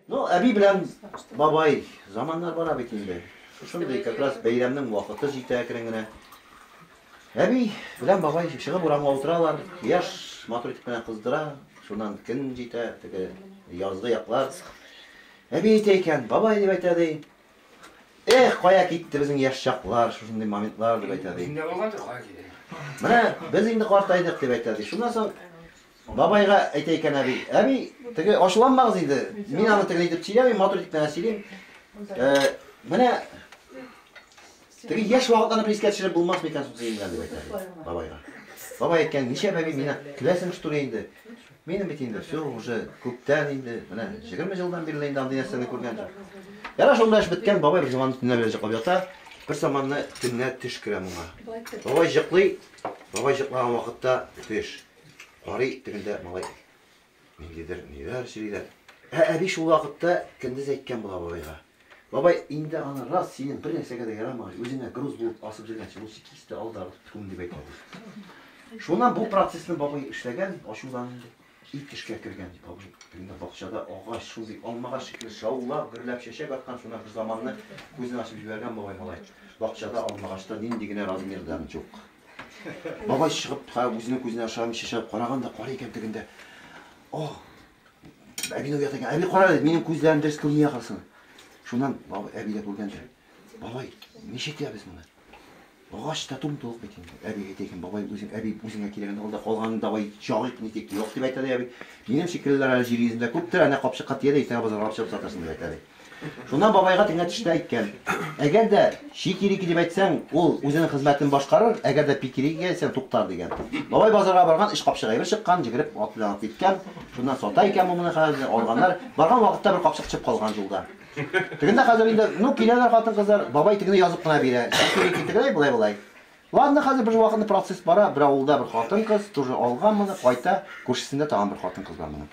Ну, әби белән бабай заманнар бара бит инде. Шушындый как раз бәйрәмнең вакыты җитә әкрен генә. Әби белән бабай чыгып урамга утыралар. Яш матур итеп кенә кыздыра. Шуннан көн җитә, теге язгы яклар. Әби әйтә икән, бабай дип әйтә ди. Эх, кая китте безнең яшь чаклар, шушындый моментлар дип әйтә ди. Менә без инде картайдык дип әйтә ди. Шуннан соң Бабайга әйтә икән әби, әби, теге ачуланмагыз инде, мин аны тегеләй итеп сөйләмим, матур итеп кенә сөйлим. Ә, менә теге яшь вакытларны бер искә төшереп булмас микән соң дигән дип әйтә бабайга. Бабай әйткән, ничә бәби мина киләсең что ли инде? Минем бит инде все уже күптән инде, менә 20 елдан бирле инде андый нәрсәне күргән юк. Яра шунда эш беткән, бабай бер заман төнлә белән җыклап ята. Бер заманны төнлә төш керә моңа. Бабай җыклый, бабай җыклаган вакытта төш. Карый, тегендә малай ниндидер ниләр сөйлиләр. Ә әби шул вакытта көндез әйткән була бабайга. Бабай, инде аны раз синең бер нәрсәгә дә ярамагач, үзеңә груз булып асып җөргән челусикисты ал да күм дип әйтә. Шуннан бу процессны бабай эшләгән, ачудан инде ит эшкә кергән бабай. Инде бакчада агач, шундый алмага шикелле шаулап, гөрләп чәчәк аткан, шуннан бер заманны күзен ачып җибәргән бабай малай. Бакчада алмагачта нинди генә размерда юк. Бабай чыгып, үзенең күзенә ашаган чәчәп караган да, карый икән тегендә. О! Әбине уят икән. Әби кара, минем күзләрем дөрес күрми яхасын. Шуннан бабай әби дә күргәндер. Бабай, ничек итәбез моны? Агач та тум тулык бит инде. Әби әйтә икән, бабай үзең әби үзеңә кирәген алда калганын давай чагыйк нитик. Юк дип әйтә дә әби. Минем шикеллеләр әле җир йөзендә күптер, әнә капчыкка тия дә иртәгә базарга алып чыгып сатырсың дип әйтә ди. Шуннан бабайга тегенә төшенә әйткән. Әгәр дә чикирики дип әйтсәң, ул үзенең хезмәтен башкарыр, әгәр дә пикирики әйтсәң, туктар, дигән. Бабай базарга барган, эч капчык әйбер чыккан, җигереп, ат белән атлый киткән. Шуннан сата икән бу моны хәзер, алганнар. Барган вакытта бер капчык төшеп калган юлда. Тегендә хәзер инде, ну, киләләр хатын-кызлар, бабай тегене язып кына бирә. Чикирики тегеләй, болай-болай. Ладно, хәзер бер вакытны процесс бара, бер авылда бер хатын-кыз тоже алган моны, кайта, күршесендә тагын бер хатын-кыз бар моның.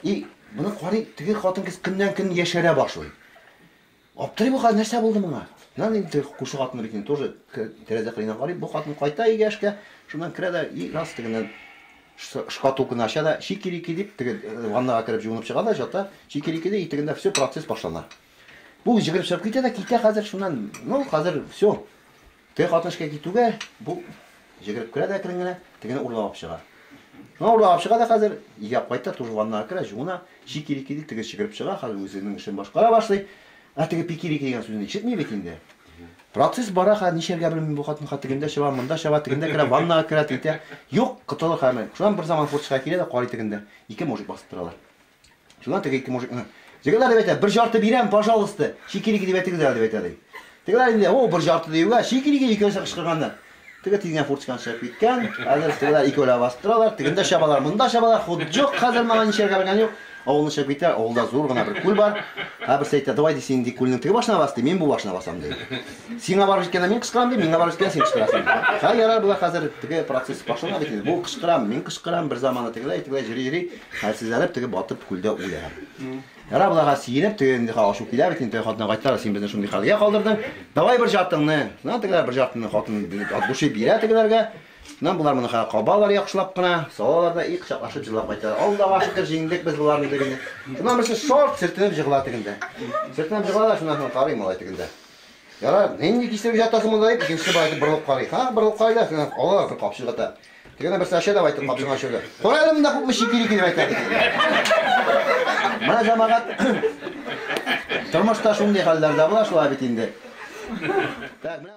И, моны карый, теге хатын-кыз көннән-көн яшәрә башлый. Аптырый бу хәзер, нәрсә булды моңа? Нан инде күрше хатыны бит инде тоже тәрәзә кырыена карый, бу хатын кайта өйгә эшкә, шуннан керә дә и раз тегеннән шкатулканы ача да, чикирики дип, теге э, ваннага кереп җуынып чыга да, жата, чикирики ди, и тегендә все процесс башлана. Бу җигереп чыгып китә дә, китә хәзер шуннан, ну хәзер все. Теге хатын эшкә китүгә, бу җигереп керә дә әкрен генә, тегене урлагап чыга. Шуңа урлагап чыга да хәзер, игәп кайта, тоже ваннага керә, җуына, чики-рики ди, теге чыгырып чыга, хәзер үзенең эшен башкара башлый. Ә теге пики-рики дигән сүзне ишетми бит инде. Процесс бара, хәзер нишләргә белми бу хатын, хәзер тегендә чаба, монда чаба, тегендә керә, ваннага керә, титә. Юк, котылыр хәле. Шуннан берзаман форточка килә дә карый тегендә, ике мужик басып торалар. Шуннан теге ике мужик, Тегеләр дип әйтә, бер жарты бирәм, пожалуйста, чикилики дип әйтегез әле дип әйтә ди. Тегеләр инде, о, бер жарты диюгә, чикилики икәүсе кычкырганнар. Теге тизгән фуртсканы чыгып киткән. Хәзер тегеләр икәүләп басып торалар, тегендә чабалар, монда чабалар, ход юк, хәзер маңа ничәргә белгән юк. Авылны чыгып китә, авылда зур гына бер күл бар. Һәм берсе әйтә, давай ди син ди күлнең теге башына бас ди, мин бу башына басам ди. Сиңа барып җиткәндә мин кычкырам ди, миңа барып җиткәндә син кычкырасың. Ха, ярар, болар хәзер теге процесс башлана бит инде. Бу кычкырам, мин кычкырам, бер заманы тегеләй, тегеләй җыри-җыри. Хәлсезләнеп теге батып күлдә үлә. Ярар боларга сиенеп теге инде ачу килә бит инде хатына кайтар син безне шундый хәлгә калдырдың. Давай бер жартыңны. Шуннан тегеләр бер жартыңны хатын душы бирә тегеләргә. Шуннан болар моны хәл кабалар яхшылап кына. Салалар да и кочаклашып җырлап кайталар. Аллага шөкер җиңдек без боларны дип инде. Шуннан берсе шорт сөртенеп җыгыла тегендә. Сөртенеп җыгыла да шуннан соң карый малай тегендә. Ярар, нинди кистереп җатасың монда дип икенчесе бар итеп борылып карый. Ха, борылып карый да шуннан алалар бер капчык ата. Теге дә берсе ача, давай, дип, капчыгын ача да. Куй әле монда күпме чик йөри килеп әйтә. Менә җәмәгать. Тормышта шундый хәлләр дә була шулай бит инде. Так, менә